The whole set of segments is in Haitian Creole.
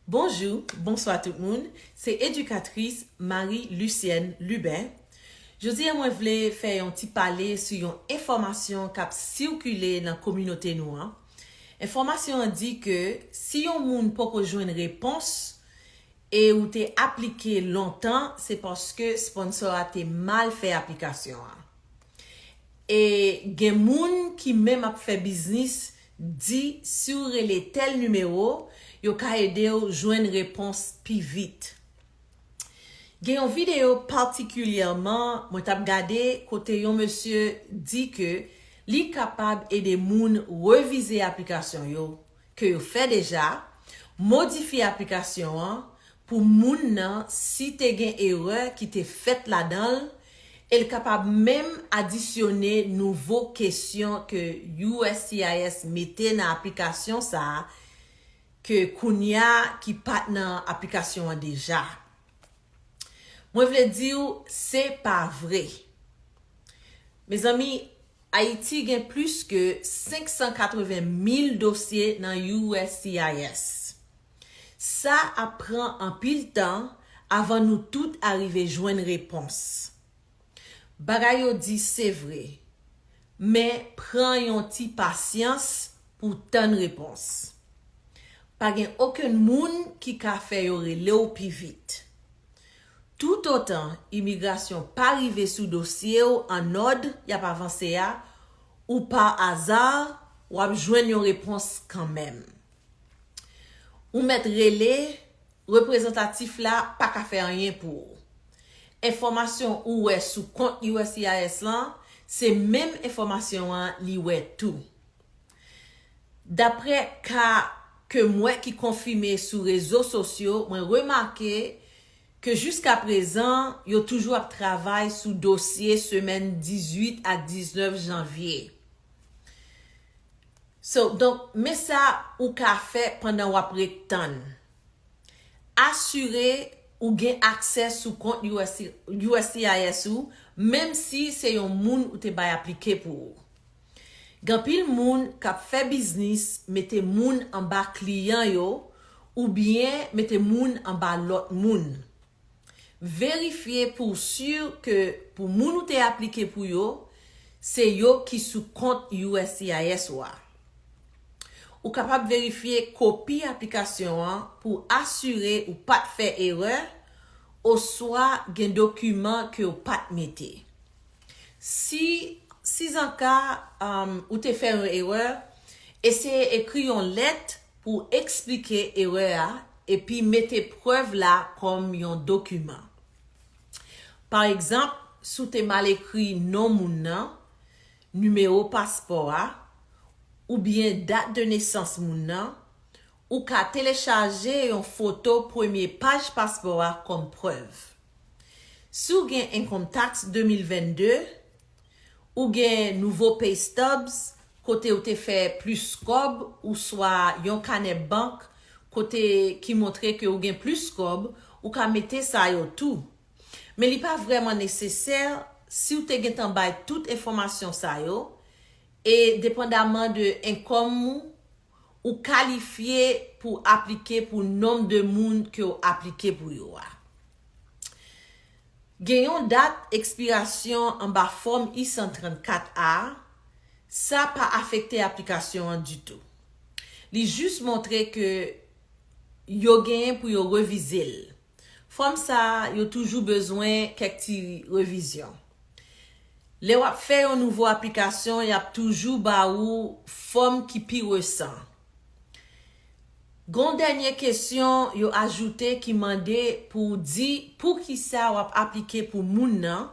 Bonjou, bonswa tout moun, se edikatris Marie Lucienne Lubin. Jodi a mwen vle fè yon ti pale sou yon enfòmasyon k ap sikile nan kominote nou an. Enfòmasyon an di ke si yon moun poko jwenn repons e ou te aplike lontan se paske sponsor a te mal fè aplikasyon an. E gen moun ki menm ap fè biznis Di si w rele tèl nimewo, yo ka ede w jwenn repons pi vit. Gen yon videyo patikilyèman mwen t ap gade kote yon mesye di ke li kapab ede moun revize aplikasyon yo ke yo fè deja, modifye aplikasyon an pou moun nan si te gen erè ki te fèt ladan l e l kapab menm adisyone nouvo kesyon ke uscis mete nan aplikasyon sa a ke kounye a ki pa t nan aplikasyon an deja. Mwen vle di w se pa vre. Mezanmi, Ayiti gen plis ke 580 mil dosye nan uscis. Sa ap pran anpil tan avan nou tout arive jwenn repons. Bagay yo di se vre, men pran yon ti pasyans pou w tann repons. Pa gen okenn moun ki ka fè yo rele w pi vit. Toutotan imigrasyon pa rive sou dosye w an òd y ap avanse a, ou par hasard, w ap jwenn yon repons kanmenm. Ou mèt rele, reprezantatif la pa ka fè anyen pou ou. Enfòmasyon ou wè sou kont uscis lan, se menm enfòmasyon an li wè tou. Daprè ka ke m wè ki konfime sou rezo sosyo, mwen remake ke jiskaprezan yo toujou ap travay sou dosye semèn 18 ak 19 janvye. So, donk, men sa ou ka fè pandan w ap ret tann. Asire ou gen aksè sou kont uscis ou menm si se yon moun ou te bay aplike pou ou. Gen anpil moun k ap fè biznis mete moun anba kliyan yo oubyen mete moun anba lòt moun. Verifye pou w sur ke pou moun ou te aplike pou yo, se yo ki sou kont uscis ou a. Ou kapab verifye kopi aplikasyon an pou w asire ou pa t fè erè oswa gen dokiman ke w pa t mete. Si sizanka ou te fè yon erè, eseye ekri yon lèt Pou eksplike erè a epi mete prèv la kòm yon dokiman. Pa egzanp, si w te mal ekri non moun nan, nimewo paspò a, oubyen dat de nesans moun nan, ou ka telechaje yon foto premye paj paspò a kòm prèv. Si w gen Income Tax 2022, Ou gen nouvo pay stubs kote ou te fè plis kòb ouswa yon kanè bank kote ki montre ke ou gen plis kòb, ou ka mete sa yo tou. Men li pa vrèman nesesè si ou te gentan bay tout enfòmasyon sa yo e depandaman de enkòm ou ou kalifye pou aplike pou nonb de moun ke w aplike pou yo a. Gen yon dat ekspirasyon anba Fòm I-134 a, sa pa afekte aplikasyon an ditou. Li jis montre ke yo genyen pou yo revize l. Fòm sa a yo toujou bezwen kèk ti revizyon. Lè w ap fè yon nouvo aplikasyon, y ap toujou ba ou fòm ki pi resan. Gen yon dènye kesyon yo ajoute ki mande pou w di poukisa w ap aplike pou moun nan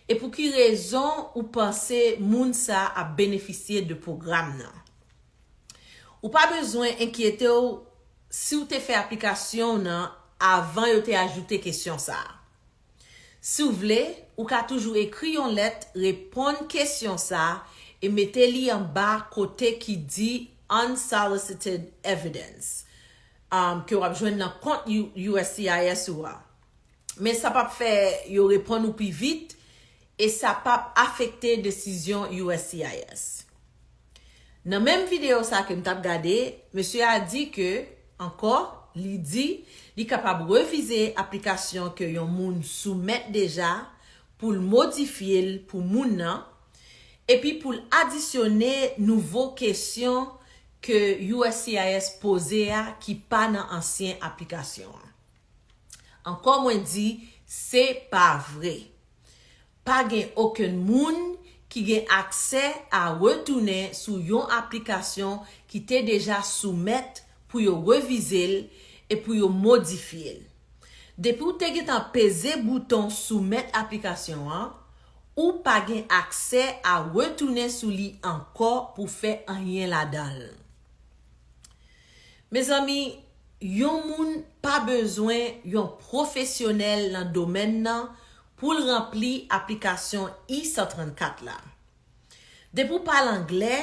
e pou ki rezon ou panse moun sa a ap benefisye de pwogram nan. Ou pa bezwen enkyete w si w te fè aplikasyon w nan avan yo te ajoute kesyon sa a. Si w vle, ou ka toujou ekri yon lèt reponn kesyon sa e mete li anba kote ki di Unsolicited Evidence ke w ap jwenn nan kont uscis ou a. Men sa p ap fè yo reponn ou pi vit e sa p ap afekte desizyon uscis. Nan menm videyo sa ke m t ap gade, mesye a di ke, ankò, li di li kapab revize aplikasyon ke yon moun soumèt deja pou l modifye l pou moun nan, epi pou l adisyone nouvo kesyon ke uscis poze a ki pa nan ansyen aplikasyon an. Ankò mwen di se pa vre. Pa gen okenn moun ki gen aksè a retounen sou yon aplikasyon ki te deja soumèt pou yo revize l e pou yo modifye l. Depi w te gentan peze bouton soumèt aplikasyon an, ou pa gen aksè a retounen sou li ankò pou fè anyen ladan l. Mezanmi yon moun pa bezwen yon pwofesyonèl nan domèn nan pou l ranpli aplikasyon I-134 la. Depi w pale anglè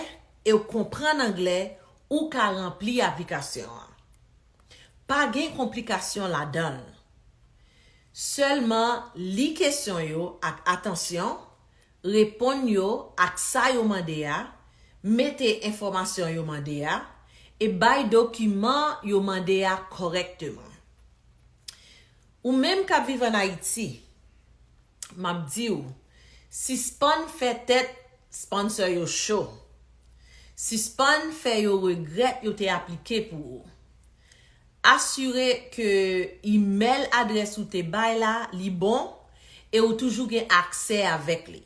e w konprann anglè ou ka ranpli aplikasyon an. Pa gen konplikasyon ladan l. Sèlman li kesyon yo ak atansyon, Reponn yo ak sa yo mande a, mete enfòmasyon yo mande a, e bay dokiman yo mande a kòrèkteman. Ou menm k ap viv ann Ayiti, m ap di w, sispann fè tèt sponsor yo cho. Sispann fè yo regrèt yo te aplike pou ou. Asire ke imèl adrès ou te bay la li bon e ou toujou gen aksè avèk li.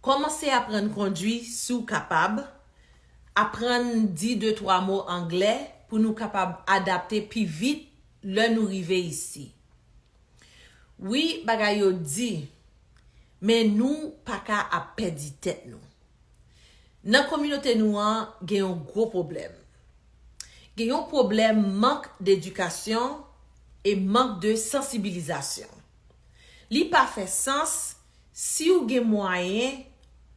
Kòmanse aprann kondwi si w kapab, aprann di de twa mo anglè pou nou kapab adapte pi vit lè nou rive isi. Wi, bagay yo di, men nou pa ka ap pèdi tèt nou. Nan kominote nou an gen yon gwo pwoblèm. Gen yon pwoblèm mank d'edikasyon e mank de sansibilizasyon. Li pa fè sans si ou gen mwayen,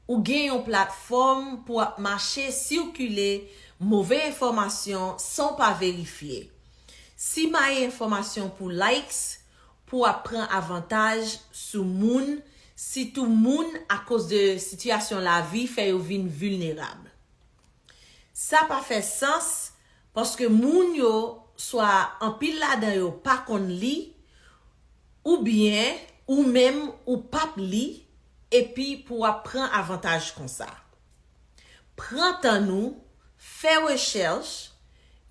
ou gen yon platfòm pou ap mache sikile move enfòmasyon san w pa verifye. Simaye enfòmasyon pou likes, pou ap pran avantaj sou moun, sitou moun akoz de sitiyasyon lavi fè yo vin vilnerab. Sa pa fè sans paske moun yo swa anpil ladan yo pa konn li oubyen ou menm ou pap li epi pou wap pran avantaj konsa. Pran tan nou, fè rechèch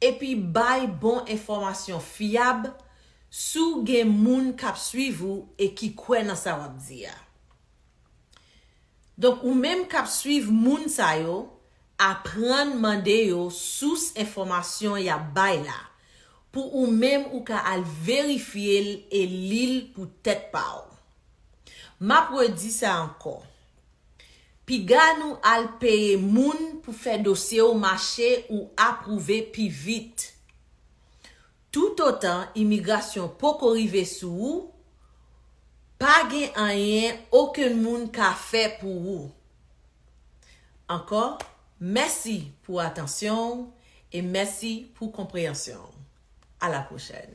epi bay bon enfòmasyon fyab si w gen moun kap swiv ou e ki kwè nan sa wap di a. Donk ou menm kap swiv moun sa yo aprann mande yo sous enfòmasyon yap bay la pou ou menm ou ka al verifye l e li l pou tèt pa w. Map redi sa ankò. Piga nou al peye moun pou fè dosye w mache ou apwouve pi vit. Toutotan imigrasyon poko rive sou ou, pa gen anyen okenn moun ka fè pou ou. Ankò, mèsi pou atansyon w e mèsi pou konpreyansyon w. A la pwochèn.